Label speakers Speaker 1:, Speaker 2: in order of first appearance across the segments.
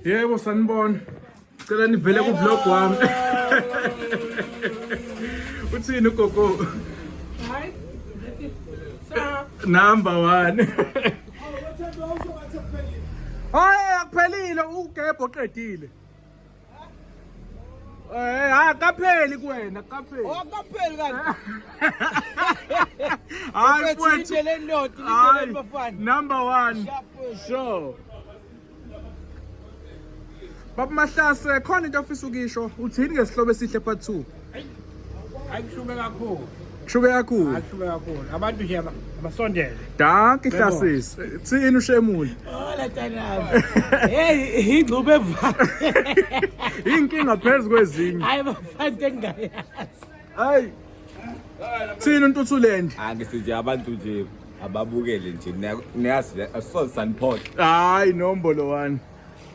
Speaker 1: yebo sanibona cela nivele kuvlog wami uthini ugogo number one hayi akuphelile ugebho oqedile Eh, ha kapheli kuwena, kapheli. Oh,
Speaker 2: kapheli
Speaker 1: kanti. Hayi
Speaker 2: mfowethu. Number
Speaker 1: 1. Sure. Baba Mahlase khona into ofisa ukisho uthini ngesihlobo esihle part 2 Ayishuke kakhulu.
Speaker 2: Kushuke kakhulu. Ayishuke kakhulu.
Speaker 1: Abantu
Speaker 2: nje aba- abasondele. Danki
Speaker 1: hlasisi. Thini ushemule. Hola
Speaker 2: tanami. Hey, ingxube evale.
Speaker 1: Inkinga phezulu kwezinye. Hayi bafana
Speaker 2: engayazi. Hayi.
Speaker 1: Thina uNtuthuland. Angisithi abantu
Speaker 3: nje ababukele nje niyazi asoze saniphola. Hayi nombolo
Speaker 1: wani.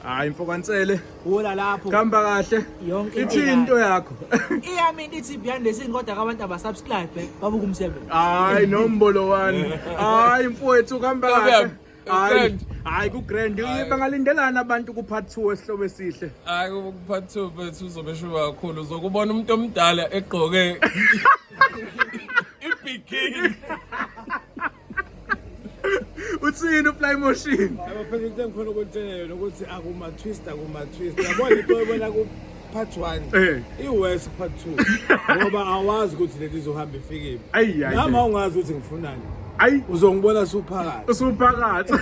Speaker 1: Hayi mfokansele. Hula lapho.
Speaker 2: Kamba kahle.
Speaker 1: Yonke into ithini into
Speaker 2: yakho.
Speaker 1: Iyami ithi
Speaker 2: behind the scene kodwa abantu abasubscribe babuka umsebenzi. Hayi nombolo
Speaker 1: wani. Hayi mfowethu kamba kahle. Hayi, hayi kugrand. Bangalindelana abantu kupart 2 esihloko esihle. Hayi kupart
Speaker 3: 2 bethu uzobe shuba kakhulu. Uzokubona umuntu omdala egqoke ibikini.
Speaker 1: uthini ufly motion? Abaphela into engikhona
Speaker 4: ukutshela yona ukuthi akuma twist akuma twist. Yabona into ebona ku part 1 eh. iwest part 2 ngoba awazi ukuthi leli zohamba ifikile nami ungazi ukuthi ngifunani ayi uzongibona
Speaker 1: usuphakathi
Speaker 4: usuphakathi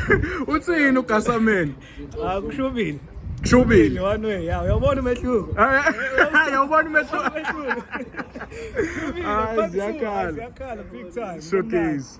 Speaker 1: uthini ugasameni akushubile
Speaker 2: ah, shubile
Speaker 1: one way yawo uyabona
Speaker 2: umehluko eh, eh, uyabona
Speaker 1: umehluko hayi
Speaker 2: ziyakhala
Speaker 1: ziyakhala big time
Speaker 2: showcase